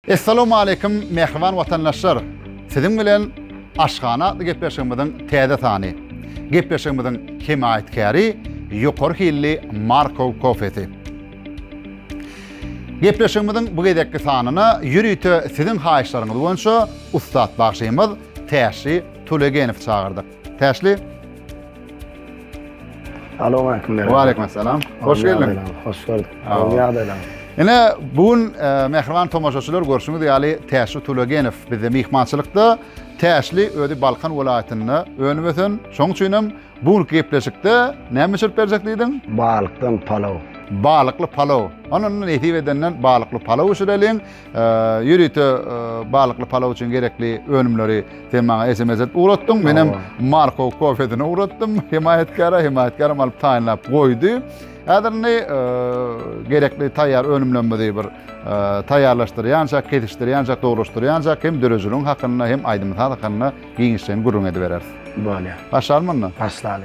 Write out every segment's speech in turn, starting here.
Essalamualeýkum mähriban watandaşlar! Siziň bilen Aşhana atly gepleşigimiziň täze sany. Gepleşigimiziň hemaýatkäri ýokary hilli Markow kofesi. Gepleşigimiziň bu gezekki sanyna ýörite siziň haýyşlaryňyz boýunça ussat bagşymyz Täşli Tulegenowy çagyrdyk. Täşli. Salam aleyküm. Wa aleyküm assalam. Hoş geldiň. Hoş gördük. Ýagdaýlaň. Ine bu gün e, mähriban tomaşaçylar görşüňiz ýaly Täşli Tulagenow bizde myhmançylykda. Täşli özi Balkan welaýatynda önüp ösen. Şoň üçin hem bu günki gepleşikde näme bişirip berjek diýdiň? Balykdan palaw. Balykly palaw. Ondan nesip edenden balykly palaw bişireliň. Ýörite balykly palaw üçin gerekli önümleri sen maňa SMS edip ugratdyň. Men hem Marko kofesine ugratdym. Hemaýatkara, hemaýatkaram alyp taýynlap goýdy. Häzir indi gerekli taýýar önümlerimizi bir taýýarlaşdyrýança, kesişdirýänçä, dogrulaşdyrýança hem döredijiligiň hakynda hem aýdym-saz hakynda giňişleýin gürrüň edibereris. Bolýar. Başlalymy onda? Başlaly.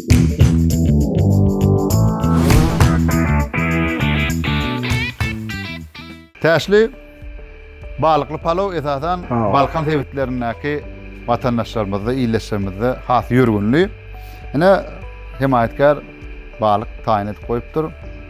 Täşli balykly palaw esasan Balkan sebitlerindäki watandaşlarymyzda, ildeşlerimizde has ýörgünli. Ine, hemaýatkär balyk taýyn edip goýupdyr.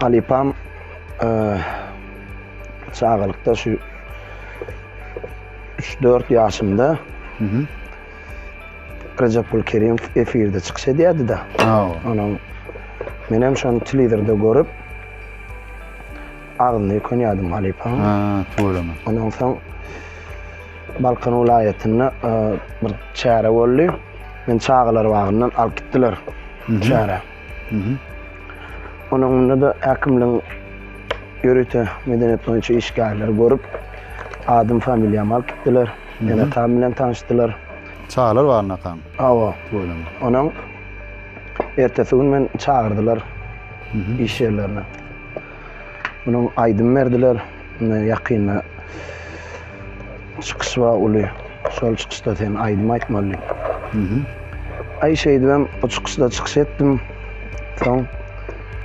Halypam çagalykda şu 3-4 ýaşymda Recepul Kerim efirde çykyş edýärdi da. Onuň men hem şony telewizorda görüp agzyny ýykanýardym halypaň. Ha, töwereme. Ondan soň Balkan welaýatynda e, bir çäre boldy. Men çagalar bagyndan alyp gitdiler çäre. Onuň munda-da häkimligiň ýörite medeniýet boýunça işgärleri görüp, adym, familiýamy alyp gitdiler. Ene, atam bilen tanyşdylar. Çagalar bagyna akaň? Hawa. Onuň ertesi gün meni çagyrdylar iş ýerlerine. Munuň aýdym berdiler. Indi ýakynda çykyş bar uly. Şol çykyşda sen aýdym aýtmaly. Aý şeýdibem o çykyşda çykyş etdim. Soň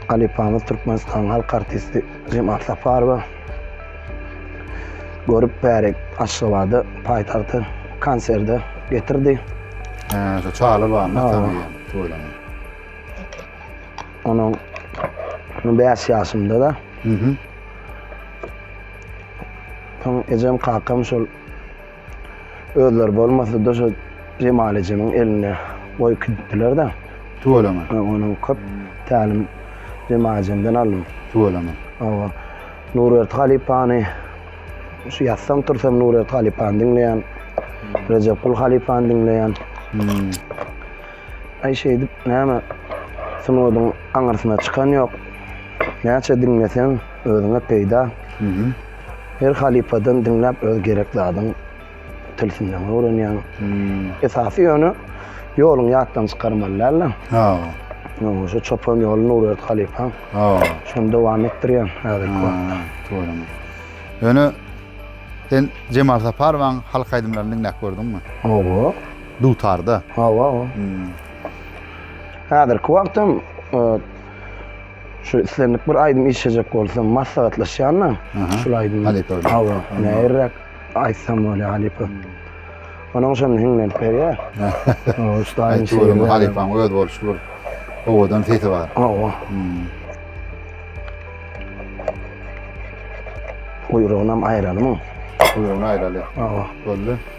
halypamyz Türkmenistanyň halk artisti Jemat Saparowa görüp bärik Aşgabada paýtagta konserde getirdi. He, şu çaly barmy? Hawa. Tanyýan, toýlanyň. Onuň bäş ýaşymda da. Soň ejem, kakam şol özleri bolmasa-da şol Jemal ejemiň eline goýup gidipdiler-de. Tüweleme. Onuň köp tälim Jemal ejemden aldym. Tüweleme. Hawa. Nurberdi halypany şu ýatsam tursam Nurberdi halypany diňleýän. Rejepgul halypany diňleýän. Aý şeýdip näme sunodyň aňyrsyna çykan ýok. Näçe diňleseň özüňe peýda. Her halypadan diňläp öz gerek zadyň tilsimlerini öwrenýäň. Esasy ýöne ýoluň ýatdan çykarmaly dälde. Ýöne şu çopan ýoly Nurberdi halypaň şony dowam etdirýän häzirki wagtda. Dogrymy. Ýöne sen Jemal Saparowyň halk aýdymlaryny diňläp gördüňmi? Hawa. Dutarda. Hawa. Häzirki wagtam şu islendik bir aýdym işlejek bolsam maslahatlaşýan-da. Şul aýdym. Halypa. Hawa. Näirräk aýtsam bolýar halypa. Onuň üçin hiňlenip berýär. Hawa, şu aýdym şeýle. Halypaň öz bolşy bir owadan sesi bar. Hawa. Guýrugyny hem aýralymy? Guýrugyny aýraly. Hawa. Boldy.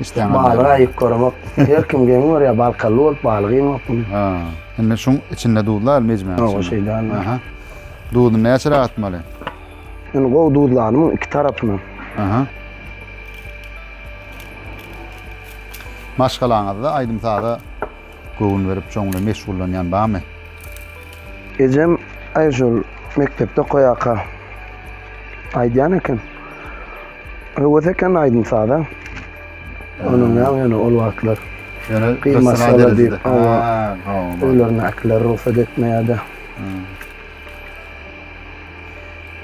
Işdäňem Balygy ýaramaz. aýyp göremok. Her kim geň görýär, balkally bolup balyk iýmok muny. Ha. Indi şuň içinde duzlar mejmäň Ýok, içinde. şey däl. Aha. Duzuny näçeräk atmaly? Indi gowy duzlany muň iki tarapyna. Aha. Maşgalaňyzda aýdym-saza göwün berip çonly meşgullanýan bamy? Ejem Aýşul mekdepde okaýaka aýdýan eken. Höwes eken aýdym saza. Onuň ýaňy ýöne ol wagtlar. Ýöne gyýmasalar diýip. Öýlerindäkiler rugsat etmeýärdi.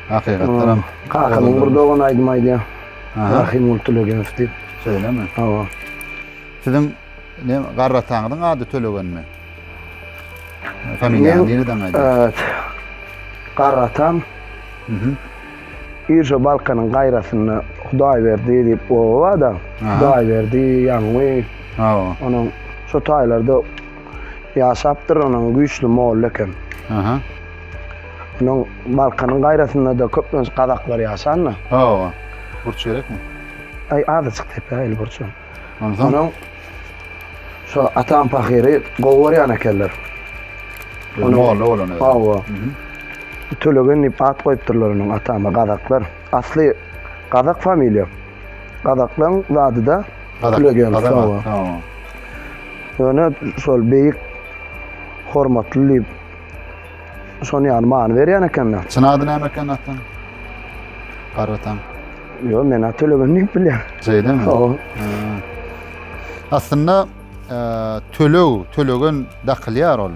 Hakykatdanam. Kakamyň bir dogany aýdym aýdýar. Rahimgul Tulegeňew diýip. Şeýlemi? Hawa. Siziň Neň garr ataňyzyň ady Tölegenmi? Familiýaňy nireden aýdýaň? Garr atam Irşo Balkanyň gaýrasynda Hudaýberdi diýip oba barda. Hudaýberdi, Ýaňy. Hawa. Onuň şo taýlarda ýaşapdyr, onuň güýçli molla eken. Aha. Onuň Balkanyň gaýrasynda-da köplenç gazaklar ýaşanda. Hawa. Burç gerekmi? Aý, azajyk tepe, il burçam. Onsoň Onuň şu atam pahyry gowy görýän ekenler. Onuň molla bolan özi. Hawa. Tölegen diýip at goýupdyrlar onuň atama gazaklar. Asly gazak familiýa. Gazaklaň zady-da Tölegen. Hawa. Ýöne şol beýik hormatly diýip şony ýaly many berýän ekenler. Çyn ady näme eken atanyň? Gargatan. Yo men at tölegini diýip bilýän. Şeýdemi? Hawa. Aslynda e, töleg, tölegen dakylýar ol.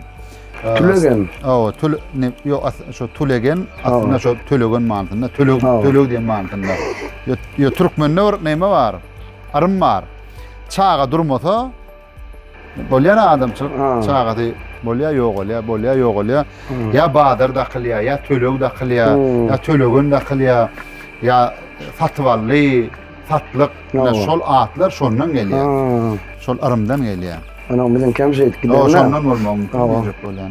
E, Tülegen. Hawa, tül ne yo as- şu tülegen aslynda şu tölegen manysynda, töleg Hawa. töleg diýen manysynda. Yo, yo türkmende bir näme bar? Arym bar. Çaga durmasa, Bolýar adamçylyk çagasy bolýar, ýogalýar, bolýar, ýogalýar. Ýa bazar dakylýar, ýa töleg dakylýar, ýa tölegen dakylýar, ýa satyp aldy, satlyk. Ýa şol atlar şondan gelýär. Şol yrymdan gelýär. Ana biziň käm şeýdip giderler. Şondan bolmagy mümkin. Ýa bolýar.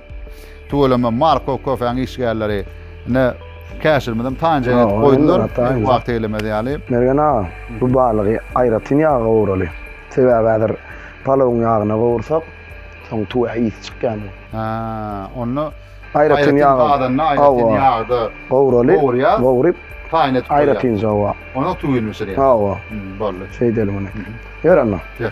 Tüweleme Marko köfäň işgärleri ine käşirmizem taýynja edip goýdular. Wagty gelemez ýaly. Mergen aga, bu balygy aýratyn ýaga gowraly. Sebäbi häzir palawyň ýagyna gowursak, soň tüwä ysy çykýandyr. Hä, onda aýratyn ýaga gazanda, aýratyn ýagda gowraly, gowurýar, gowrup taýyn edip goýýar. Aýratynja hawa. Onuň tüwini bişirýär. Hawa. Boldy. Şeýdelim ine. Ýör onda. Ýör.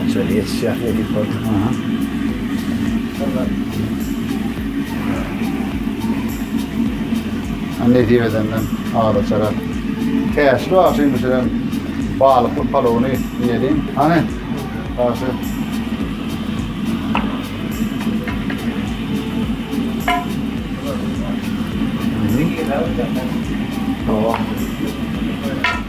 Onça ýetişýär nädip boldy? Aha. Nesip edenden azaçara. Täşli agşam bişiren balykly palowyny ýediň. Hany? Agşy. Tamam.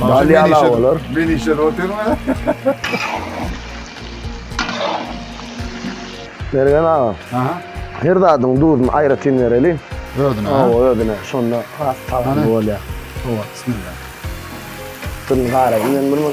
Dal ýala bolar. Men işe oturma. Bergen aga. Aha. Her zadyň duzuny aýratyn bereli. Özüne. Hawa, özüne. Şonda has tagamy bolýar. Hawa, bismillah. Tüm gara men bunu.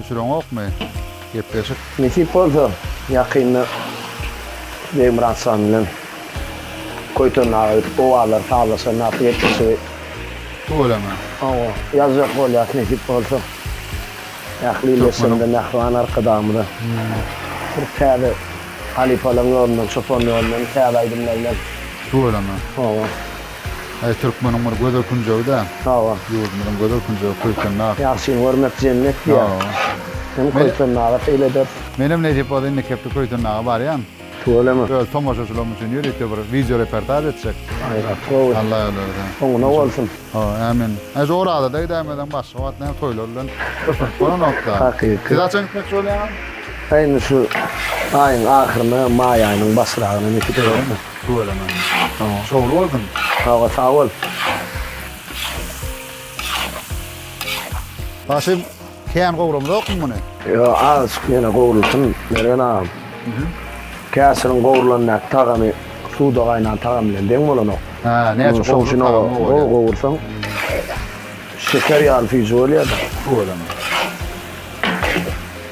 Düşüreňokmy gepleşik. Nesip bolsa ýakynda Begmyratjan bilen Köýten aga gidip owazlary sazlaşan wagty gepleşigi Tüweleme. Hawa, ýazjak bolýas nesip bolsa. Ähli illeşjeginde Mähriban Arkadagymyza bir täze halypalaryň ýolundan, çopan ýolundan täze aýdymlar bilen. Tüweleme. Hawa. Aý türkmeniň bir gözel künjegi-dä. Hawa. Ýurdumyzyň gözel künjegi Köýtendag. Ýagşyny görmek jennet diýýär. Hawa. Hem Köýtendaga seýil ederis. Menem nesip bolsa indi kepde Köýtendaga barýan. Tüweleme. Öz tomaşaçylarym üçin ýörite bir wideo reportaž etjek. Aýratyn gowy. Alla özi berse. Oňuna bolsun. Hawa, ämin. Aý şu Orazada gidäýmesem başga wagt näme toýlar bilen bolup bolanok-da. Hakyky. Siz haçan gitmekçi bolýaňyz? Aý indi şu aýyň ahyryna, maý aýynyň başyragyna nesip edermi? Tüweleme. Tamam, şowly bolsun. Sag bol, sag bol. Başy kän gowramzokmy muny? Ýo, azajyk ýene gowrulsyn, Mergen agam. Käşiriň gowrulandaky tagamy suwda gaýnan tagamy bilen deň bolanok. Hä, näçe gowrulyp tagamy gowy bolýar. Gowursaň, şeker ýaly süýji bolýar-da. Tüweleme.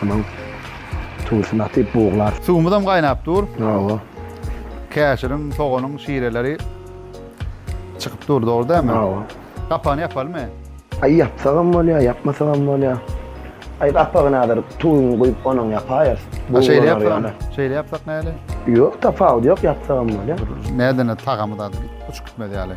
Tamam. Tuwusy nasyp buglar. Suwumyzam gaýnap dur. Hawa. Käşiriň, soganyň şireleri çykyp dur, dogry dälmi? Hawa. Gapagyny ýapalymy? Aý ýapsagam bolýar, ýapmasagam bolýar. Aý gapagyny hazir tuwuny guýup onuň ýapaýarys. Ha şeýle ýapsam, şeýle ýapsak näli? Ýok tapawudy ýok ýapsagam bolýar. Nädeni tagamy zady uçup gitmez ýaly.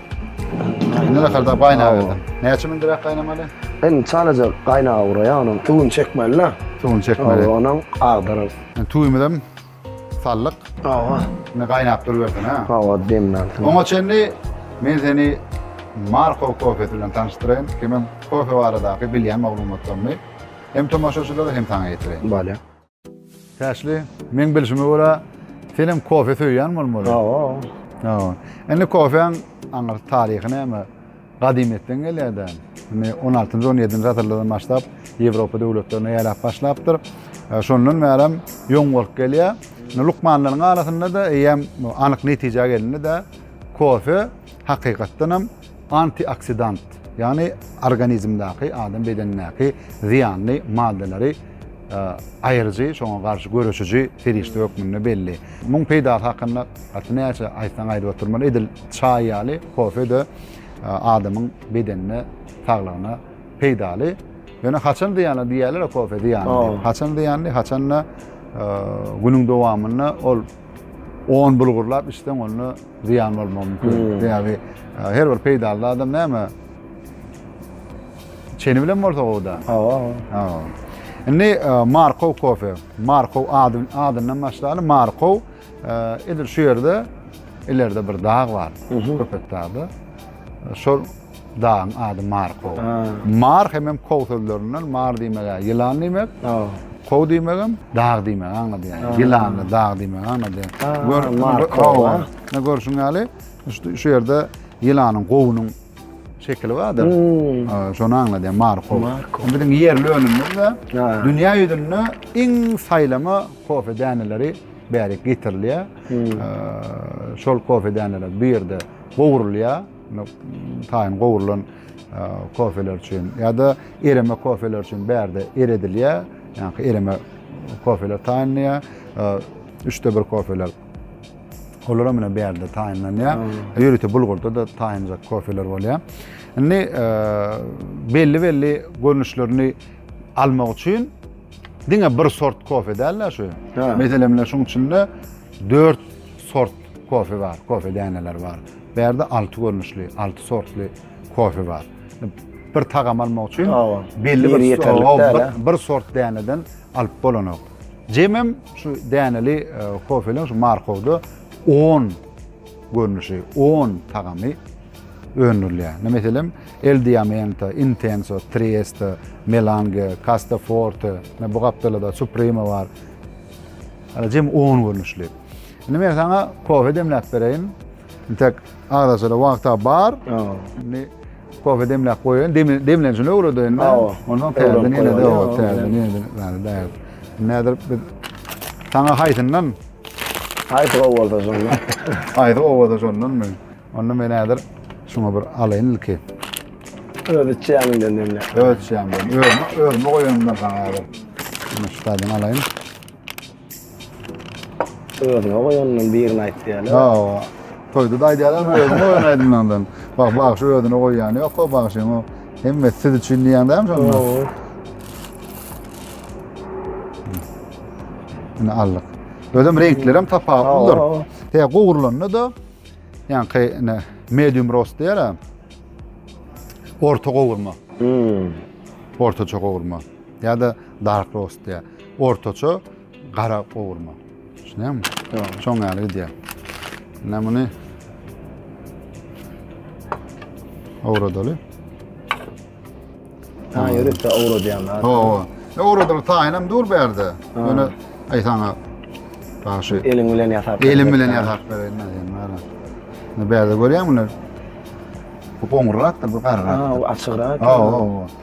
Indi naharda gaýnap berdim. Näçe mündirek gaýnamaly? Indi çalaja gaýnaga guraýa onuň suwuny çekmeli-de. Suwuny çekmeli. Hawa, onuň agdaryl. Tüwimizi hem saldyk. Hawa. Indi gaýnap durubersin, hä? Hawa, demlensin. Oňa çenli men seni Marko kofesi bilen tanyşdyraýyn. Kimem kofe baradaky bilýän maglumatlarymy hem tomaşaçylara hem saňa ýetireýin. Bolýar. Täşli, meň bilşime görä, sen hem kofe söýýän bolmaly. Hawa. Hawa. Indi kofeň aňyr taryhy näme? Gadymyýetden gelýär-de. Indi 16-njy, 17-nji asyrlardan başlap Ýewropa döwletlerine ýaýrap başlapdyr. E, şondan bäri ýoň bolup gelýär. Indi lukmanlaryň arasynda-da eýýäm anyk netijä gelindi-de, kofe hakykatdan hem Antioksidant, ýagny organizmdäki, adam bedenindäki zyýanly maddalary aýyryjy, şoňa garşy göreşiji serişde hökmünde belli. Muň peýdasy hakynda gaty näçe aýtsaň aýdyp oturmaly, edil çaý ýaly kofe-de adamyň bedenine, saglygyna peýdaly. Ýöne haçan zyýanly diýýärler-ä kofe zyýanly diýip. Haçan zyýanly, haçan-da günüň dowamynda ol On bulgurlap içseň onda ziyan bolmagy mümkin. Hmm. Yani her bir peýdaly adam näme? Çeni bilen bolsa gowda. Hawa. Hawa. Indi e, Markov kofe. Markov adyn, adyndan başlaýar. Markov e, edil şu ýerde ileride bir dag bar. Köpet dagda. E, şol Dagyň ady Markow. Mar hemem kow sözlerinden mar diýmeg-ä ýylan diýmek. Kow diýmegem dag diýmegi aňladýar. Ýylany, dag diýmegi aňladýar. Gör, Markow. Ine görşüň ýaly, şu ýerde ýylanyň gowunyň şekili bardyr. Hmm. Şony aňladýar Markow. Markow. Biziň ýerli önümimiz-de dünýä ýüzünde iň saýlama kofe däneleri bärik getirilýär. Hmm. Şol kofe däneler bu ýerde gowrulýar. Taýyn gowrulan kofeler üçin ýa-da ereme kofeler üçin bärde eredilýär. Ýaňky ereme kofeler taýynlanýar. Üçde bir kofeler olar hem bärde taýynlanýar. Ýörite bulgurda da taýynlanjak kofeler bolýar. Indi belli-belli görnüşlerini almak üçin diňe bir sort kofe däl-de şu. Meselem, şunuň içinde dört sort Kofe bar, kofe däneleri bar. Bu ýerde alty görnüşli, alty sortly kofe bar. Bir tagam almak üçin belli bir ýeterlik bir sort däneden alyp bolanok. Jemem şu däneli e, kofeleň şu markowda 10 görnüşi, 10 tagamy öndürilýär. Ne meselem, El Diamante, Intenso, Trieste, Melange, Casta Forte, ne bu gapdalada Supreme bar. Hala jem 10 görnüşli. Şimdi men sana kofe demläp bereýin. Tek arasada wagta bar. Şimdi kofe demläp goýaýyn. Demlenjini öwredeýin. Hawa. Ondan täzeden ýene de o täzeden ýene zany daýar. Nädir biz sana haýsyndan? Haýsy gowy bolsa şondan. Haýsy gowy bolsa şondan men. Onda men häzir şuňa bir alaýyn ilki. Öz içýäninden demle. Öz içýäninden. Özüme, özüme goýanymdan sana häzir. Şunu şutadan alaýyn. Özüne goýandan birini aýt diýýärler. Hawa. Toýda da aýdýarlar, özüne goýan aýdymlaryndan. Bak, bagşy özüne goýýany ýok-a, bagşyň o hemmesi siz üçin diýýän dämi şonda? Hawa. Ine aldyk. Özem reňkleri hem tapawutlydyr. Hawa. He, gowrulanda-da, ýaňky ine medium roast diýýär-ä. Orta gowurma, Hmm. ortaça gowurma ýa-da dark roast diýýär. Ortaça gara gowurma. Düşünýäňmi? Ýok. Şoň ýaly gidýär. Indi muny owradaly. Ha, ýörite owradýanlar. Hawa. Owradyl taýynam dur bu ýerde. Ýöne aý saňa Bagşy. Eliň bilen ýasap. Elim bilen ýasap bereýin nädeýin bana. Ne bärde görýäň muny? Bu goňurrakdyr, bu garrak. Ha, açygrak. Ha, ha, ha.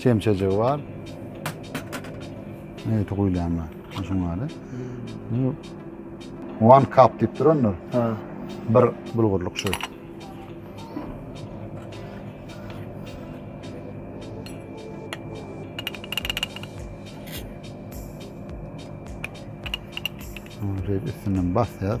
Çemçejigi bar. Ne eti guýlan bar. Şuň ýaly. One cup diýip durandyr. Ha. Bir bulgurlyk şu. Şöyle üstünden basýas.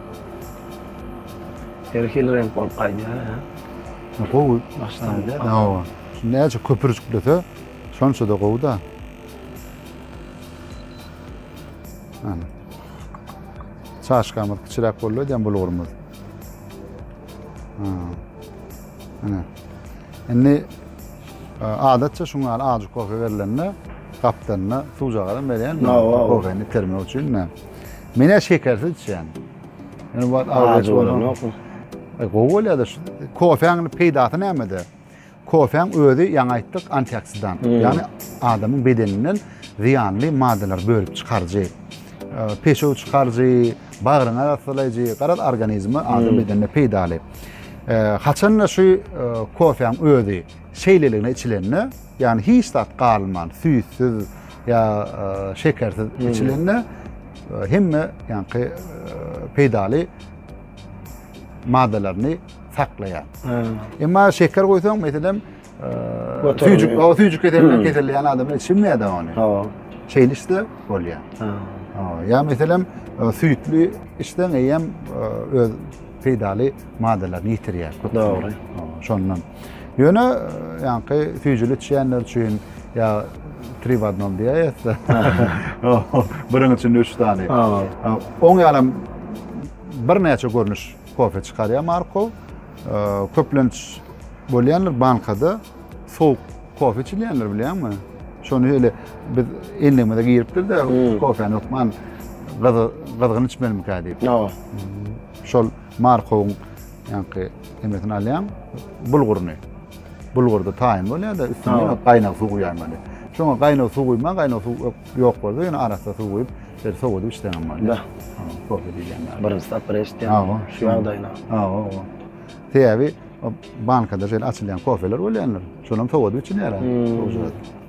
Her hili reňk bolup gaýdýar ä. Gowy başlangyç. Hawa. Näçe köpüri jüklese şonçada gowyda. Ana. Çaşkamyz kiçiräk boldy diýen bulgurymyz. Ana. Indi adatça şuň ýaly ajy kofe berlende gapdalynda suwjagadan berýän kofeni termek üçin. Menä şekersiz içýän. Ýöne bu awraç bolanokmy? E, gowy bolýar-da. Kofäň peýdasy nämede? Kofäň özi ýaňy aýtdyk antioksidant. Hmm. Ýagny adamyň bedeninden zyýanly maddalar bölüp çykaryjy. E, peşew çykaryjy, bagryňy arassalaýjy, garaz organizme adam hmm. bedenine peýdaly. E, haçan-da şu e, kofäň özi Şeýleligine içilende, ýagny hiç zat galman, süýtsüz ýa şekersiz içilende hemme ýaňky peýdaly maddalaryny saklaýar. Emma şeker goýsaň, meselem, süýjük, o süýjük keselinden keselleýän adamlar içilmeýär-de ony. Hawa. Şeýle işte bolýar. Hawa. Ýa meselem, süýtli içseň eýýäm öz peýdaly maddalaryny ýitirýär. Dogry. Şondan. Ýöne ýaňky süýjüli içýänler üçin ýa tri w adnom diýäýesde. Biriň içinde üç sany. Oň ýalam birnäçe görnüş kofe çykarýar Marko. Köplenç bolýanlar bankada sowuk kofe içilýänler bilýäňmi? Şony öyle biz endigimize giripdir de hmm. kofeni hukman gyzgyn içmelimikä diýip. Şol Markowyň Ýaňky nemesini alýaň, bulguryny. Bulgurda taýyn bolýar-da, üstüne ýene gaýnag suw guýýan maly. Şoňa gaýnag suw guýma, gaýnag suw ýok bolsa, ýene arassa suw guýup, şeýle sowadyp içseň hem bolýar. Da. Kofe diýilýän ýaly. Birinji tapgyr eşitýän. Hawa, şu ýagdaýyna. Hawa, hawa. Sebäbi bankada şeýle açylýan kofeler bolýandyr. Şonuň sowadyp içilýär-ä.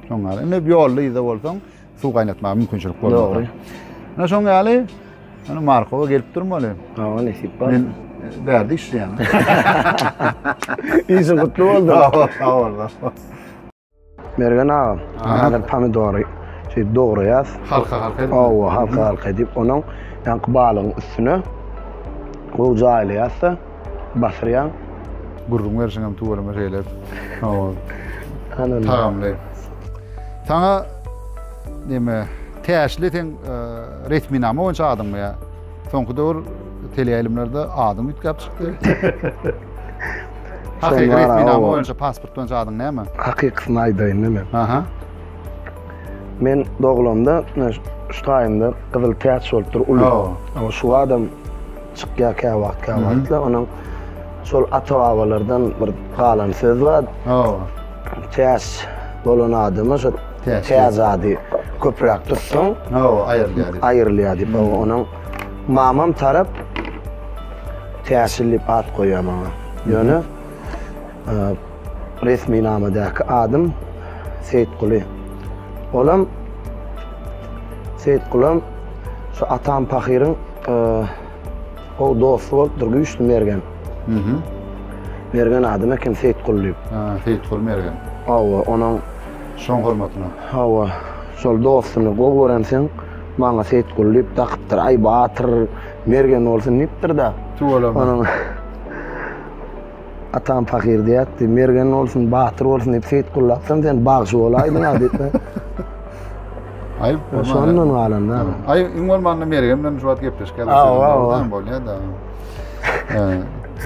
Şoňa indi ýolda-ýüzde bolsaň, suw gaýnatmaga mümkinçilik bolmady. Dogry. Ine şoň ýaly ýöne Markowa gelip durmaly. Hawa, nesip bar. Men e, bärde işleýän. Işi gutly boldy. Sag bollar. Mergen aga, häzir pomidory şey dograýas. Halka halka edip. Owa, halka halka edip, onuň ýaňky balygyň üstüne gowy jaýlaýas-da, basyrýaň. Gürrüň berşiňem tüweleme şeýle tagamly. Saňa näme täşli seň e, resminama boýunça adyňmy ýa? Soňky döwür teleýaýlymlarda adyň üýtgäp çykdy. Hakyky resminama boýunça pasport boýunça adyň näme? Hakykysyny aýdaýyn näme? Aha. Men doglamda şu taýymda gyzyl täç bolupdyr uly. Ama şu adam Çykýar käwagt käwagtlar onuň şol ata babalardan bir galan söz bar. Hawa. Täz bolan adama şo täz ady köpräk tutsaň. Hawa aýrylýar. Aýrylýar diýip onuň mamam tarap Täşil diýip at goýýar maňa. Ýöne. Resminamadäki adym Seýitguly. Olam Seýitgulam şu atam pahyryň gowy dosty bolupdyr Güýçli Mergen. Mergen adyny eken Seýitguly diýip. Ha, Seýitguly Mergen. Hawa, onuň şoň hormatyna. Hawa, şol dostuny gowy görensiň, maňa Seýitguly diýip dakypdyr. Aý, Batyr Mergen bolsun diýipdir-de. Tüweleme. Onuň Atam pahyr diýýärdi. Mergen bolsun, batyr bolsun diýip Seýit gullapsam sen bagşy bolaýdyň-a diýip. Aýyp bolman. Şondan galanda. Aý, iň bolmanda Mergen bilen şu wagt gepleşip geldi. Awa, bolýar-da.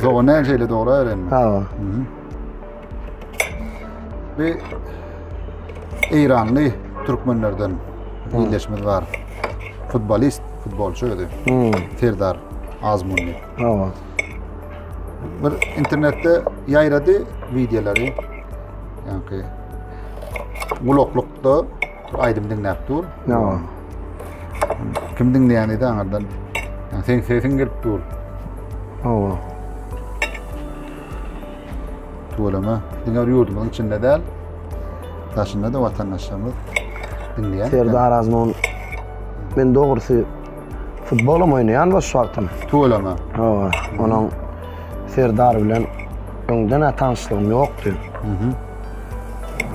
Zogo näme şeýle dogry öwrenme. Awa. Bi Eýranly türkmenlerden ildeşimiz bar. Futbolist, futbolçy özi. Serdar Azmunli. Awa. bir internetde ýaýrady wideolary. Ýagny gulaklykda aýdym diňläp dur. Ýa. Kim diňleýän edi aňardan. Yani sen sesiň gelip dur. Hawa. Tuwalama. Diňe bir ýurdumyzyň içinde däl. Daşynda da watandaşlarymyz diňleýär. Serdar Azmun. Men dogrusy Futbolum oýnaýan boş wagtym. Tuweleme. Hawa, onuň Serdar bilen öňden ä tanşlygym ýokdy. Mhm.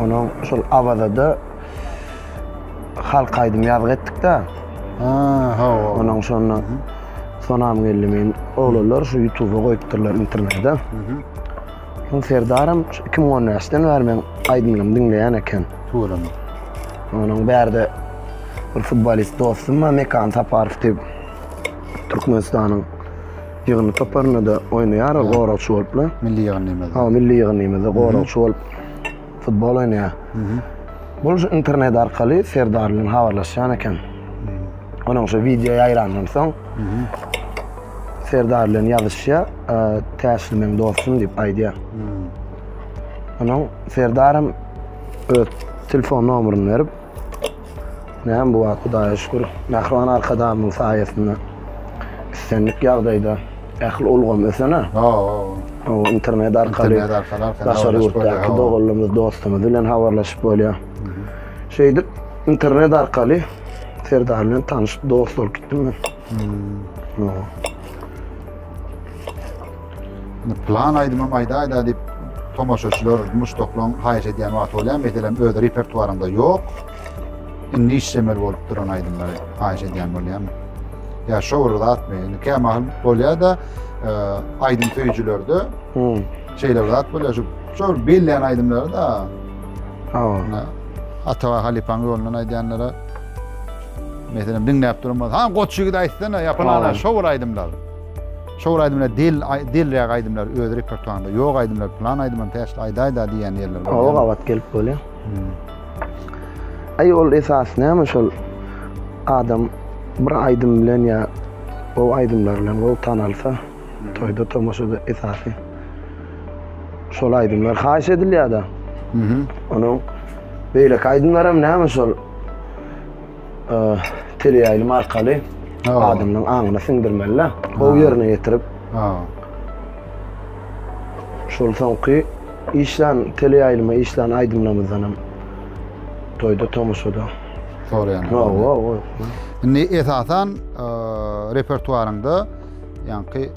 Onuň şol Awazada halk aýdym ýazgy etdik-de. Ha, hawa. Onuň şonda Sonam geldi men. Oglanlar şu YouTube-a goýupdyrlar internetde. Mhm. Soň Serdaram şu 2015-den bäri meň aýdymlarymy diňleýän eken. Tuweleme. Onuň bärde bir futbolist dostum bar Mekan Saparow diýip. Türkmenistanyň ýygyndy toparynda-da oýnaýar ol, goragçy bolupla. Milli ýygyndymyzda. Hawa, milli ýygyndymyzda goragçy bolup. futbol oýnaýar. Bul şu internet arkaly Serdar bilen habarlaşýan eken. Onuň şu wideo ýaýrandan soň Serdar bilen ýazyşýar, e, täşli meň dostum diýip aýdýar. Onuň Serdaram öz telefon nomeryny berip, Näme bu wagt Hudaýa şükür, mähriban Arkadagymyň saýasynda islendik ýagdaýda ähli ulgam ösen-ä. Hawa. Internet arkaly daşary ýurtdaky doganlarymyz, dostlarymyz bilen habarlaşyp bolýar. Şeýdip internet arkaly Serdar bilen tanyşyp dost bolup gitdim men. Plan aýdymym aýda-aýda diýip tomaşaçylar muşdaklaň haýyş edýän wagty bolýar. Meselem, öz repertuarymda ýok. Indi işlemeli bolup duran aýdymlary haýyş edýän bolýan. Ýa şo bir zatmy? Indi kämahal bolýar-da, e, aýdym söýüjilerde şeýle bir zat bolýar. Şu şo bir bellän aýdymlary-da. Hawa. Atawa halypaň ýolundan aýdýanlara Meselem diňläp durmaz. Ha goç ýigit aýtsana ýapylana şo bir aýdymlar. Şo bir aýdymlar del delräk aýdymlar öz repertuarynda ýok aýdymlar plan aýdymam täşli aýdaýda diýýän ýerler bar. Oba gabat gelip bolýar. Hmm. Aý ol esas näme şol adam bir aýdym bilen ýa o aýdymlar bilen gowy tanalsa hmm. toýda tomaşada esasy şol aýdymlar haýyş edilýär-de. Mhm. Onuň beýleki aýdymlaram näme şol e, teleýaýlym arkaly Ha. adamyň aňyna siňdirmeli-de. Gowy ýerine ýetirip, Ha. şol soňky işlän, teleýaýlyma işlän aýdymlarymyzdan hem toýda, tomaşada. Soraýan. Ha, o, o. Indi esasan e, repertuaryňda ýaňky e,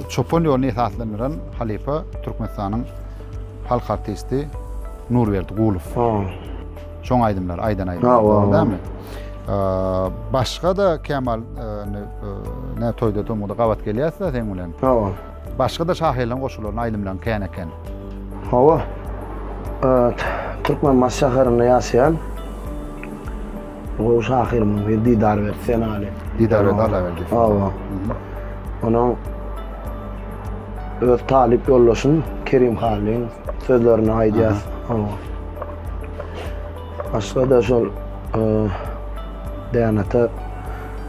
çopan ýoluny esaslandyran halypa Türkmenistanyň halk artisti Nurberdi Gulow. Ha. Şoň aýdymlary, aýdan aýdymlary. Dogry dämi? Başga da Kemal ne toýda tomuda gabat gelýäs da sen bilen. Hawa. Başga da şahyrlaryň goşgularyny aýdymlaryň kän eken. Hawa. Türkmen baş şäherinde ýaşaýan gowy şahyrymyz bir Didar berdi sen aly. Didar berdi Allah berdi. Hawa. Onuň öz talyp ýoldaşym Kerim Hallin sözlerini aýdýas. Hawa. Başga da şol Dänata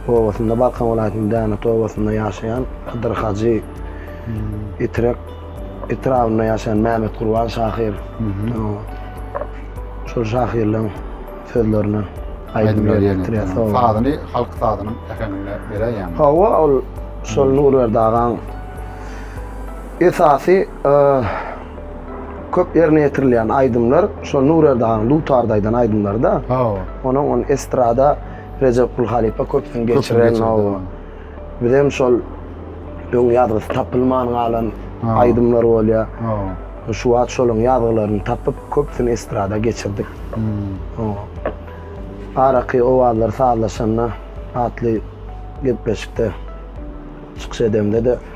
obasynda, Balkan welaýatynyň Dänata obasynda ýaşaýan Hydyr Hajy, Itrek etrabynda ýaşaýan Mämmet Gurban şahyr. Şol şahyrlaryň sözlerini aýdymlar ýetirýär. Sazyny halk sazynyň äheňinde beräýýär. Hawa, ol şol Nurberdi agaň esasy köp ýerine ýetirilýän aýdymlar şo Nurerdi hanyň dutarda aýdan aýdymlary-da. Hawa. Onuň ony estrada Rejepgul halypa köpden geçiren, hawa. Bizem şol öň ýazgysy tapylman galan aýdymlar bolýar. Hawa. Şu wagt şolaryň ýazgylaryny tapyp, köpüsini estrada geçirdik. Hawa. Araky owazlar sazlaşanda atly gepleşikde çykyş edemde-de,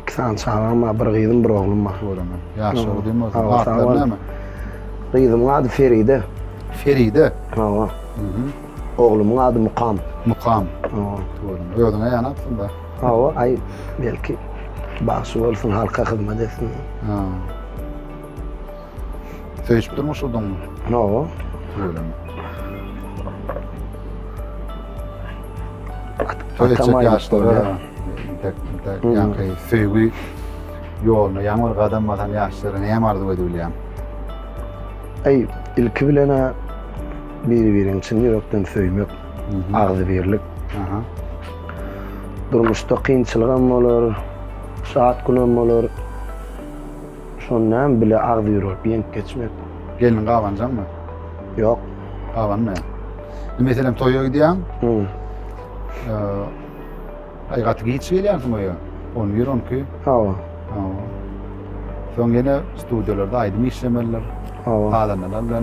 İki sany çagam bar, bir gyzym, bir oglum bar. Göremen. Ýaşlar diýme o zaman. Atlary näme? Gyzymyň ady Feride. Feride. Hawa. Oglumyň ady Mukam. Mukam. Hawa. Göremen. Özüňe ýan atsyň bar. Hawa, aý, belki bagşy bolsun, halka hyzmat etsin. Ha. Söýüşip durmuş uduň. Hawa. Ölen. Atam yaşlara. Tek tek yani söýgi yoluna yan bir kadam basan yaşlara ne arzu edibilýän? Ey, ilki bilen biri-birini çyn ýürekden söýmek, agzybirlik. Aha. Durmuşda kynçylyk hem bolar, şat gün hem bolar. Şony näme bile agzy ýüwrüp ýeňip geçmek. Gelniň gabanjaňmy? Ýok. Gabanmy? Indi meselem toýa gidýäň. Hum. Aý gaty giç gelýänsiň öýe. On bir, on iki. Hawa. Hawa. Soň ýene studiýalarda aýdym işlemelidir. Hawa. Gazanylanda.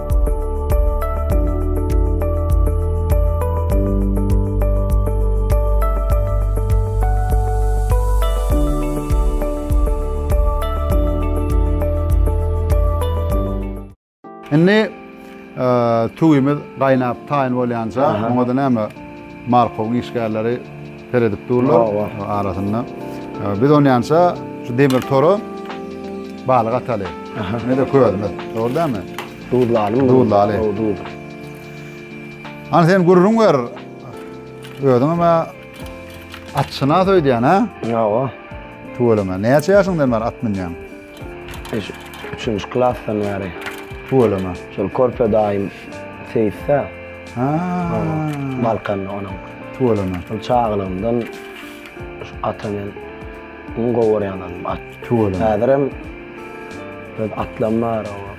Indi e, tüwimiz gaýnap taýyn bolýanja, oňa-da näme Markowyň işgärleri Seredip durlar arasynda. Biz onýança şu demir tora balyk ataly. Nede közümiz. Dogry dämi? Duzlaly. Duzlaly. Ana sen gürrüň ber. Özüň hem atçyna söýdýän, ha? Ýa-a. Tüweleme. Näçe ýaşyňdan bar at münýäň? Eş, üçünji klasdan bäri. Tüweleme. Şol körpe daýym seýisdä. Ha. Balkanda onuň. Tüweleme. Şol çagalygymdan şu ata men iň gowy görýän adam at. Tüweleme. Häzirem öz atlam bar oba.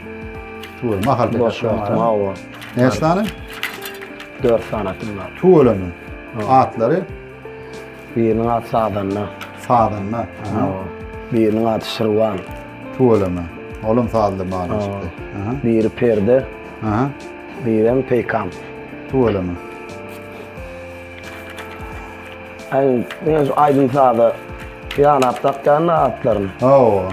Tüweleme. Mahal boş wagtym oba. Näçe sany? Dört sany atym bar. Tüweleme. Atlary? Biriniň ady Sazanda. Sazanda. Aha. Biriniň ady Şirwan. Tüweleme. Olam sazly balyşykdy. Aha. Biri Perde. Aha. Birem Peýkam. Tüweleme. Aýdym, men şu aýdym saza ýanap dakýan atlaryny. Hawa.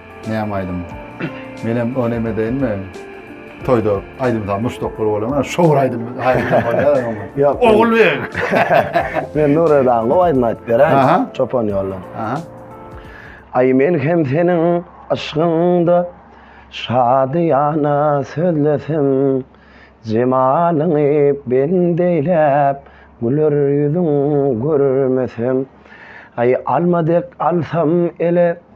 Näme aýdym? Menem o näme deýinmi? Toýda aýdym sa muşdaklar bolýar, şowur aýdym bolýar. Ýok. Ogul beň. Men Nuredan gowy aýdym aýdyp beren. Çopan ýolda. Aha. Ay men hem seniň aşkyňda şadyýana sözlesem jemalyňy bendeýläp güler ýüzüň görmesem ay alma dek alsam ele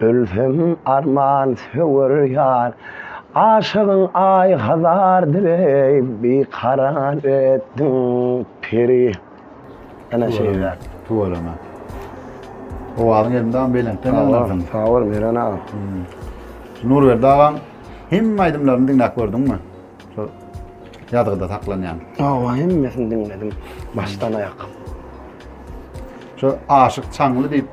Ölsem arman söwer ýar. Aşygyň aý hazardyr eý, bikarar etdiň peri. Ene şeýdäk. Tuweleme. Owazyň elmydama belentden ýaňlansyn. Sag bol Meren aga. Nurberdi agaň hemme aýdymlaryny diňläp gördüňmi? Şol ýazgyda saklanýan. Hawa, hemmesini diňledim, başdan-aýak. Şu Aşyk Çaňly diýip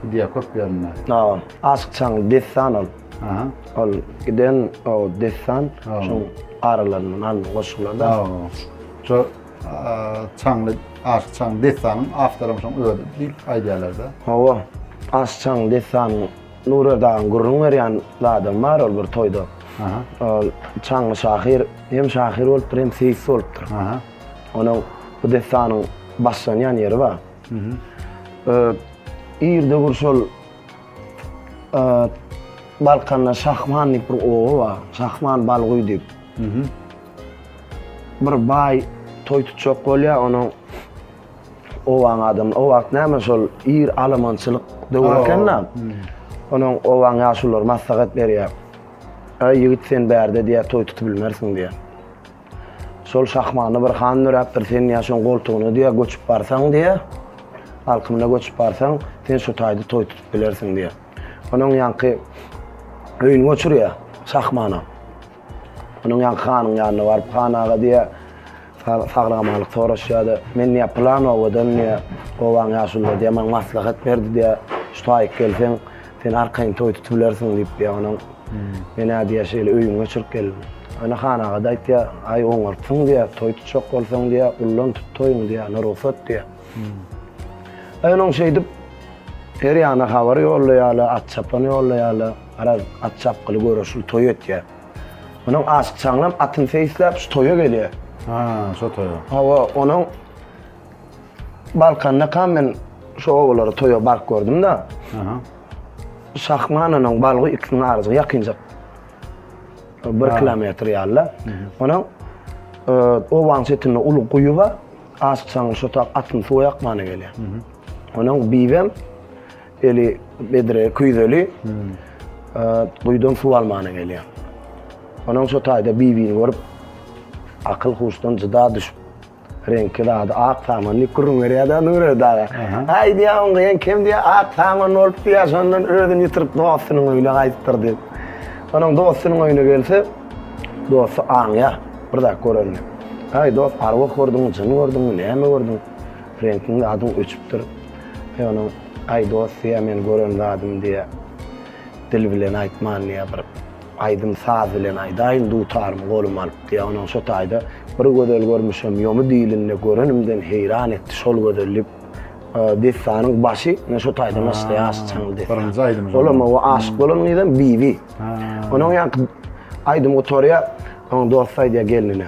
gidýär köp ýerinde. Hawa, Aşyk Çaňly dessan ol. Aha. Ol giden o dessan, şoň aralaryndan alnyp goşular da. Hawa. Şu Çaňly, Aşyk Çaňly dessanyň awtory hem şoň özi diýip aýdýarlar-da. Hawa, Aşyk Çaňly dessanyň Nura dagyň gürrüň berýän zadam bar ol bir toýda. Ol çaňňy şahyr, hem şahyr bolupdyr, hem seýis bolupdyr. Onuň bu dessanyň başlanýan ýeri bar. Irde bir şol Balkanda Şahman diýip bir oba bar. Şahman Balguý diýip. Bir baý toý tutjak bolýar, onuň obaň adamyny, o wagt näme şol ir alamançylyk döwri eken-de, onuň obaň ýaşululary maslahat berýär. Äý, ýigit, sen bärde diýýär, toý tutubilmersiň diýýär. Şol şahmany bir han döräpdir, sen diýýär, şoň goltugyna diýýär, göçüp barsaň diýýär, alkymyna göçüp barsaň, sen şu taýda toý tutup bilersiň diýýär. Onuň ýaňky öýüni göçürýär şahmana. Onuň ýaňky hanyň ýanyna baryp, Han aga, diýýär, sag-amanlyk soraşýar-da, Men, diýýär, pylan obadan, diýýär, obaň ýaşululary, diýýär, maňa maslahat berdi, diýýär, şu taýyk gelseň, sen arkaýyn toý tutubilersiň diýip, diýýär, onuň men-ä, diýýär, şeýle öýüňe göçürip geldim. Onda Han aga-da aýtýar, Aý, oňartsyň, diýýär, toý tutjak bolsaň, diýýär, ullan tut toýuňy, diýýär, onda rugsat, diýýär. Aý, onuň şeýdip, her ýana habar ýollaýarlar, at-çapan ýollaýarlar. Garaz, at çapgyly göreşil toý etýär. Onuň aşykçaňam atyny seýisläp, şu toýa gelýär. Ha, şo toýa. Hawa, onuň Balkandakam men şo obalary toýa baryp gördüm-de. Aha. Şahman onuň Balgu ikisiniň arasy ýakynjak. Bir kilometr ýaly-da. Onuň obanyň çetinde uly guýy bar. Aşykçaňyň şo tap atyny suwa ýakmana gelýär. Onuň bibem Eli bedre küýzeli. Guýudan suw almana gelýär. Onuň şu taýda Bibini görüp, akyl huşdan jyda düşüp, reňki zady ak saman diýip gürrüň berýär-de Nure daga. Aý diýýär, oň gyýan kim diýýär, ak saman bolup diýýär, şondan özüni ýitirip dostunyň öýüne gaýdypdyr diýip. Onuň dostunyň öýüne gelse, dosty aňýar bir zat görende. Aý dost, arwah gördüňmi, jyn gördüňmi, näme gördüň? Frenkiň adyň öçüpdir. Eý onuň, aý dost diýýär, men gören zadym diýýär. Dil bilen aýtman diýýär, bir aýdym saz bilen aýdaýyn dutarymy goluma alyp diýýär. Onuň şo taýda bir gözel görmüşem ýomy dilinde görenimden heýran etdi şol gözel diýip dessanyň başy ine şo taýdan başlaýar Aşyk Çaňly dessany. Birinji aýdym. Olam o aşyk bolan gyzam Bibi. Onuň ýaňky aýdym gutarýar. Onuň dosty aýdýar gelnine.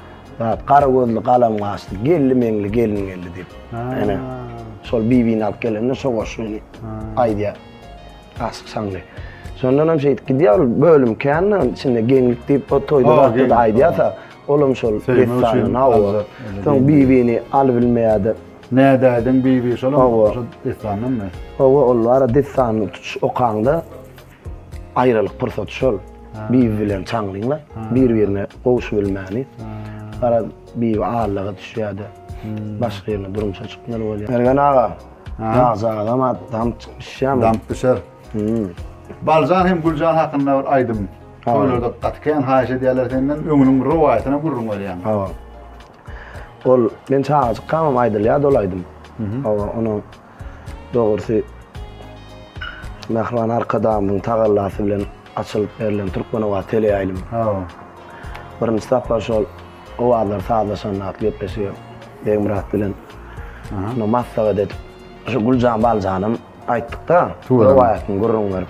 Zat gara gözli galam gaşly geldi meňli gelin geldi diýip. Ene. Şol bibini alyp gelende şo goşgyny aýdýar. Aşyk şaňly. Şondan hem şeýdip gidýär bölüm kände içinde geňlik diýip o toýda zatda da aýdýarsa olam şol dessanyny hawa. Soň bibini alyp bilmeýärdi. Nädäýdiň bibi şolam şo dessandanmy? Hawa ol bara dessanyny tutuş okaňda Aýralyk pursaty şol. Bibi bilen Çaňlyňlar bir-birine gowuşybilmäni. Garaz, Bibi aldaga düşýär-de, başga ýerine durmuşa çykmaly bolýar. Mergen aga, ýaş agam-a damp düşýärmi? Damp düşer. Baljan hem Güljan hakynda bir aýdym. Toýlarda gaty kän haýyş edýärler senden, öňüniň rowaýatyna gürrüň berýäň. Hawa. Ol men çagajykkamam aýdylýardy ol aýdym. Hawa, onuň Dogrusy, Mähriban Arkadagymyzyň tagallasy bilen açylyp berlen Türkmenowazy teleýaýlymy. Hawa. Birinji sapar şol owazlar sazlaşanda atly gepleşige Begmyrat bilen şunda maslahat edip, şu Güljan Baljanam aýtdyk-da, rowaýatyny gürrüň berip.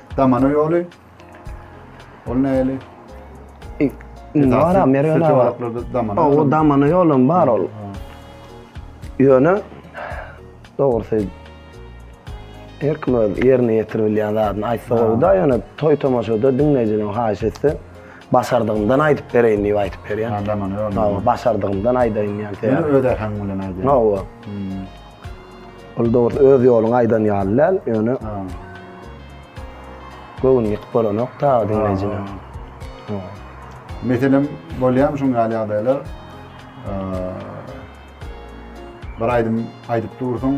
Damana ýoly. Ol näli? Nara Merwena bar. Çewaraklarda damana. O damana ýolum bar ol. Ýöne dogrusy her kim öz ýerine ýetirip bilýän zadyny aýtsa gowy-da, ýöne toý tomaşada diňleýjileriň haýyş etse, başardygymdan aýdyp bereýin diýip aýdyp berýän. Ha, damana ýolum. Hawa, başardygymdan aýdaýyn diýen. Ýöne öz äheňiň bilen aýdaýyn. Hawa. Ol dogrusu öz ýoluňy aýdan ýaly däl, ýöne göwün ýykyp bolanok ta diňleýjine. Meselem, bolýamy şuň ýaly ýagdaýlar? Bir aýdym aýdyp dursuň,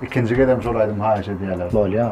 ikinji gezegem şol aýdymy haýyş edýärler. Bolýar.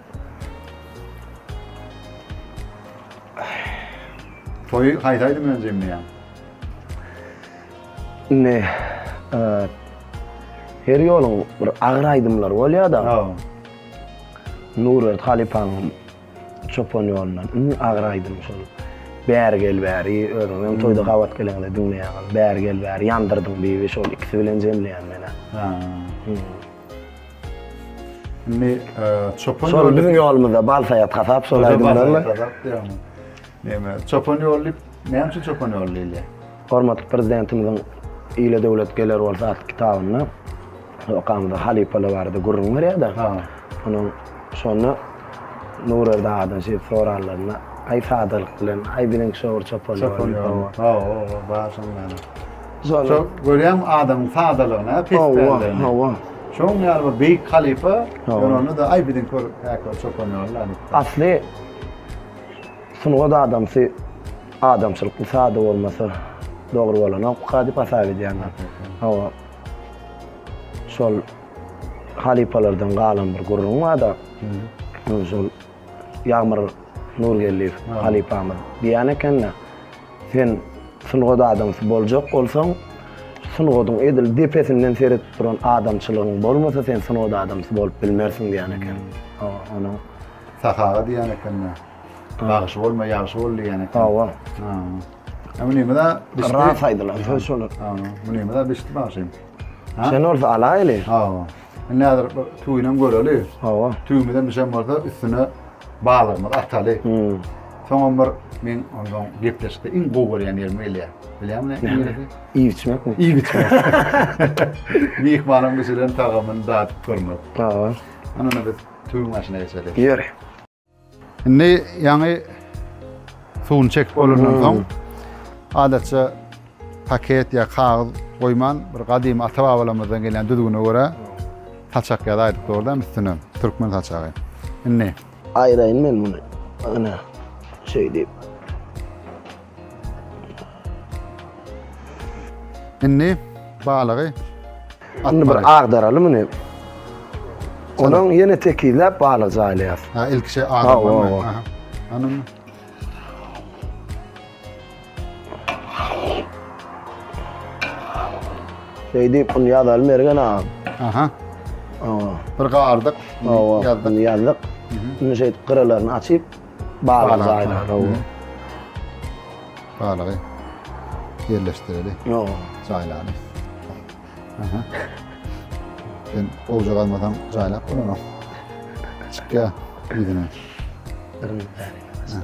Toýy haýsy aýdym bilen jemleýäň? Indi her ýoluň bir agyr aýdymlary bolýar-da. Nurberdi halypaň Çopan ýolundan iň agyr aýdym şol. Bäri gel bäri, özüňiz hem toýda gabat geleňde diňleýäňiz. Bäri gel bäri, ýandyrdyň bibi şol ikisi bilen jemleýän men-ä. Indi çopan ýoly... Şol biziň ýolumyzda bal saýat hasap şol aýdymlarla. Näme, çopan ýoly diýip, näme üçin çopan ýoly diýilýär? Hormatly Prezidentimiziň Ile döwlet geler bolsa atly kitabynda okamyzda halypalar barada gürrüň berýär-de. Ha. Onuň şonda Nurerdi agadan şeýdip sorarlarynda, aý sadalyk bilen, aý biziň şo bir çopan ýoly. Çopan ýoly. Ha, o, o, bar şonuň ýaly. Şol görýäň adamyň sadalygyny, pespäligini. Hawa, hawa. Şoň ýaly bir beýik halypa, ýöne onda aý biziň kör käki çopan ýaly. Asly sungat adamsy adamçylykly sada bolmasa dogry bolanokka diýip hasap edýän. Hawa. Şol halypalardan galan bir gürrüň bar-da. Şol Ýagmyr Nurgeldiýew halypamyz diýen ekeni, Sen sungat adamsy boljak bolsaň, sungatyň edil depesinden seredip duran adamçylygyň bolmasa, sen sungat adamsy bolup bilmersiň diýen eken. Onuň Sahaga diýen ekeni, Bagşy bolma, ýagşy bol diýen eken. Hawa. Hawa. Munymyz-a bişdi. Ras aýdylan söz şolar. Hawa. Munymyz-a bişdi bagşym. Sen bolsa alaýyly. Hawa. Indi häzir bir tüwinem göreli. Hawa. Tüwümizem bişen bolsa üstüne balygymyzy ataly. Hmm. Soňam bir men ondan gepleşikde iň gowy görýän ýerim gelýär. Bilýärmi ne? Neresi? Iýip içmekmi? Iýip içmek. Myhmanyň bişiren tagamyny dadyp görmek. Hawa. Ana biz tüwüň başyna geçeli. Ýör. Indi ýaňy suwuny çekip bolandan soň, adatça paket ýa kagyz goýman, bir gadymy ata-babalarymyzdan gelýän düzgüne görä saçak ýazaýdyk dogrudanam üstüne, türkmen saçagy. Indi Aýraýyn men muny. Ana, şeýdip. Indi balygy Indi bir agdaraly muny. Onuň ýene tekizläp balyk jaýlaýas. Ha, ilkiçe agdarmaly. Ha, Anam. Şeýdip bunu ýazaly Mergen agam. Aha. Awa. Bir gardyk. Awa. Ýazdyk. Ýazdyk. Indi şeýdip gyralaryny açyp Balyk jaýlar, hawa. Balygy ýerleşdireli. Ýo. Jaýlany. Aha. Sen owja galmasaň jaýlap bolanok. Çykýa ýüzüne. Aha.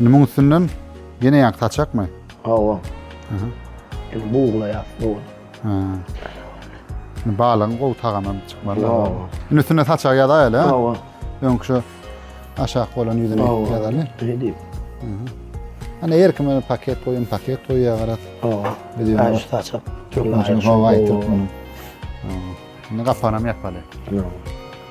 Indi muň üstünden ýene ýaňky saçakmy? Hawa. Aha. Indi buglaýas bu. Ha. Indi balygyň gowy tagamy çykmaly. Hawa. Indi üstüne saçak ýazaýaly, ha? Hawa. Öňki şu aşak bolan ýüzüni ýazaly. Ne diýip? Ana her kime paket goýun, paket goýýar garat. Hawa. Biz ýöne şu saçak. Türkmençe hawa aýtdyk muny. Indi gapanam ýapaly. Hawa.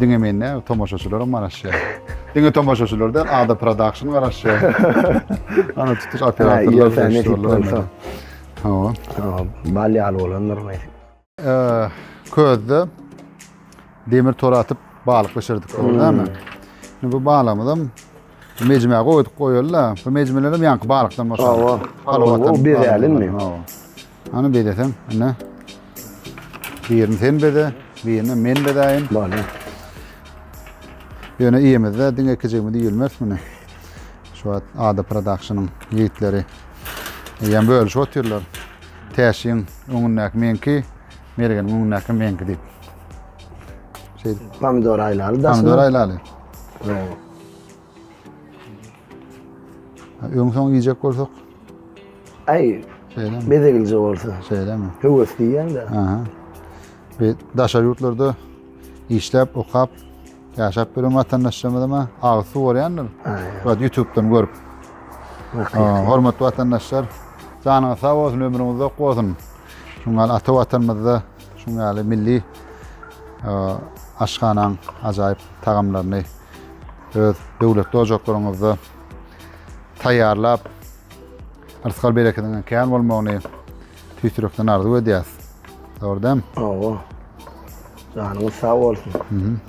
Diňe men däl, tomaşaçylar hem garaşýar. Diňe tomaşaçylar däl, Ada Production garaşýar. Ana tutuş operatorlar garaşýarlar. Hawa. Hawa, bal ýaly bolandyr men. Közde demir tor atyp balyk bişirdik hmm. dämi? Şimdi bu balığımız hem mecmä goýup goýuldy. Bu mecmeler hem ýaňky balykdan başlandy. Hawa. Hawa, bu bezälinmi? Hawa. Hany bezeseň, ine. Birini sen beze, birini men bezäýin. Bale. Ýöne iýemizde diňe ikijigimiz iýilmez muny. Şu wagt Ada Productionyň ýigitleri ýem bölüşip otyrlar. Täşiň öňündäki meňki, Mergeniň öňündäki meňki diýip. Şeýdip. Pomidor aýlaly daşyna. Pomidor aýlaly. Bravo. Öň soň iýjek bolsak. Aý. Şeýle. Mezegilje bolsa. Şeýlemi? Höwes diýýän-de. Aha. Bi daşary ýurtlarda işläp, okap, ýaşap ýören watandaşlarymyzma agyz suw görýändir. Aý. YouTube-dan görüp. Hormatly watandaşlar, janyňyz sag bolsun, ömrüňiz uzak bolsun. Şuňal ata watanymyzda Şunuň ýaly milli aşhanaň ajaýyp tagamlaryny öz döwletli ojaklaryňyzda taýýarlap, rysgal berekediňiň kän bolmagyny tüýs ýürekden arzuw edýäs. Dogry dämi? Hawa. Janyňyz sag bolsun.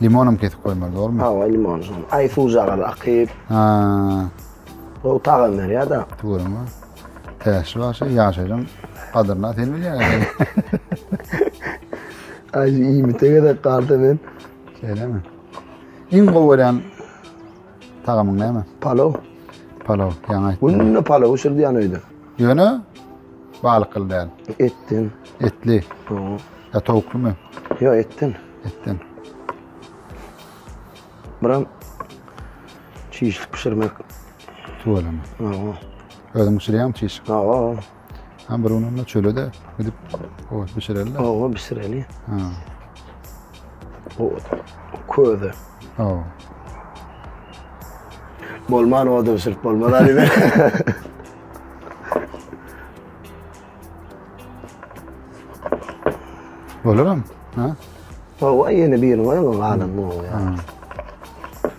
Limonam kesip goýmaly, dogrumy? Hawa, limon. Aý suwjagal akyp. Ha. Gowy tagam berýär-de. Görüňmi? Täşli başy ýaşaýjyň gadyryna sen bilýän eken. Aý, iýmite gezek galdy men. Şeýlemi? Iň gowy görýän tagamyň näme? Palaw. Palaw, ýaňy aýtdyň. Günde palaw bişirýän öýde. Ýöne balyk gyl däl. Etden. Etli. Oho. Ýa towuklymy? Ýo, etden. Etden. Biram Çişlik bişirmek. Tuweleme. Hawa. Özüň bişirýäňmi çişlik? Hawa. Hem bir gün onda çöle-de gidip owat bişireli. Hawa, bişireli. Ha. O köze. Hawa. Bolman oda bişirip bolmaz Ali ben. Bolaram. Ha? Hawa, ýene birini goýaň, galan bu. Ha.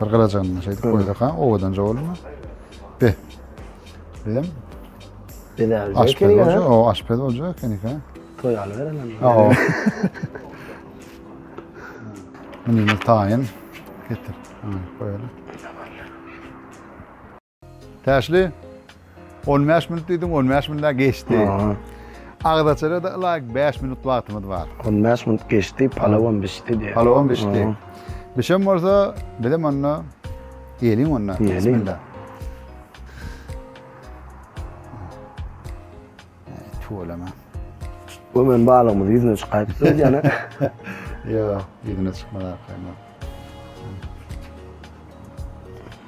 Bir gylajandan şeýdip goýsak ha, owadanja bolma. Be. Beýem. Bela. Aşpez bolja, o aşpez bolja ekeni ha. Toý aly beremem. Ha. Meni taýyn getir. Ha, goýaly. Täşli, on bäş minut diýdiň, on bäş minut-a geçdi. Agzaçara-da ylaýyk bäş minut wagtymyz bar. On bäş minut geçdi, palawam bişdi diýýär. Palawam bişdi. Bişen bolsa, bizem onda ýeliň onda. Ýeliň. Tüweleme. Bu men balygymyz ýüzüne çykaýypdyr öýdýän. Ýa, ýüzüne çykmady arkaýyndan.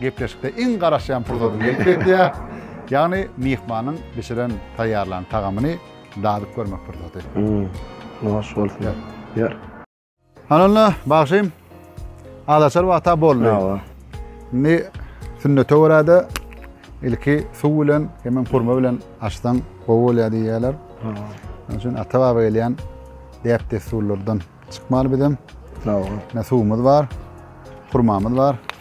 Gepleşikde iň garaşýan pursatym gelip ýetýär. Ýagny myhmanyň bişiren, taýýarlan tagamyny dadyp görmek pursaty. Noş bolsun. Ýör. Ýör. Hany onda, bagşym, azaçar wagta boldy. Hawa. Indi sünnete görä-de ilki suw bilen, hemem hurma bilen açsaň gowy bolýar diýýärler. Hawa. Şonuň üçin ata-baba gelýän däp-dessurlardan çykmaly bizem. Hawa. Ine suwumyz bar, hurmamyz bar.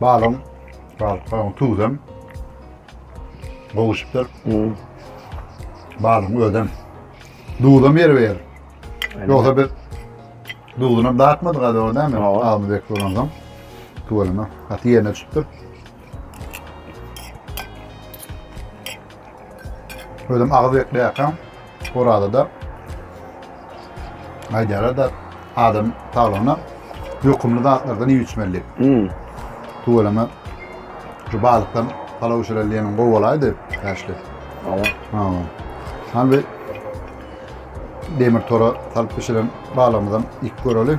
Balon, balon tuzem gowuşupdyr. Balon özem duzam ýer ber. Ýogsa biz duzuna datmadyk hadi o näme? Almy bek bolandan. Tuwalana. Haty ýerine düşüpdir. Özüm agyz bekleýärkäm, Orazada aýdýarlar-da, adam saglygyna ýokumly zatlardan iýip-içmeli diýip. Hmm. Tüweleme şu balykdan palaw bişireli diýeniň gowy bolaýdy, bäşli. Awa. Ha. Hany bir demir tora salyp bişiren balygymyzam iýip göreli.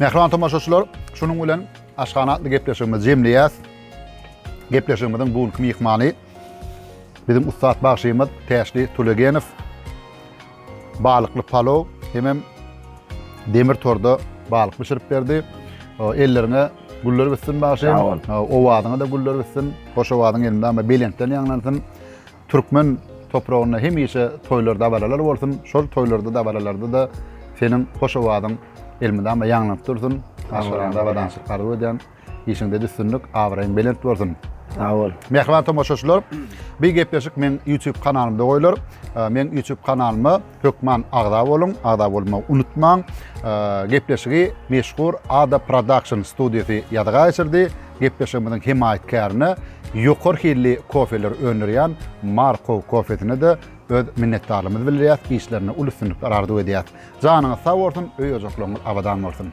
Mähriban tomaşaçylar, şunuň bilen Aşhana atly gepleşigimizi jemleýäs. Gepleşigimiziň bu günki myhmany biziň ussat bagşymyz Täşli Tulegenow. Balykly palow hemem demir torda balyk bişirip berdi. Elleriňe güller bitsin bagşym. Owazyňa da güller bitsin. Hoş owazyň elinde ama belentden ýaňlansyn. Türkmen topragynda hemişe toýlar dabaralar bolsun şol toýlarda dabaralarda-da seniň hoş owazyň elmydama ýaňlanyp dursun aşgaraňda abadançylyk arzuw edýän işiňde üstünlik abraýyň belent bolsun. Sag bol. Mähriban tomaşaçylar, bi gepleşik meň YouTube kanalymda goýlar. Meň YouTube kanalyma Hökman agza boluň, agza bolmagy unutmaň. Gepleşigi meşhur Ada Production studiýasy ýazyga geçirdi. Gepleşigimiziň hemaýatkärini ýokary hilli kofeleri öndürýän Markow kofesine-de öz minnetdarlygymyzy bildirýäs, işlerinde uly üstünlikler arzuw edýäs. Janyňyz sag bolsun, öý-ojaklaryňyz abadan bolsun!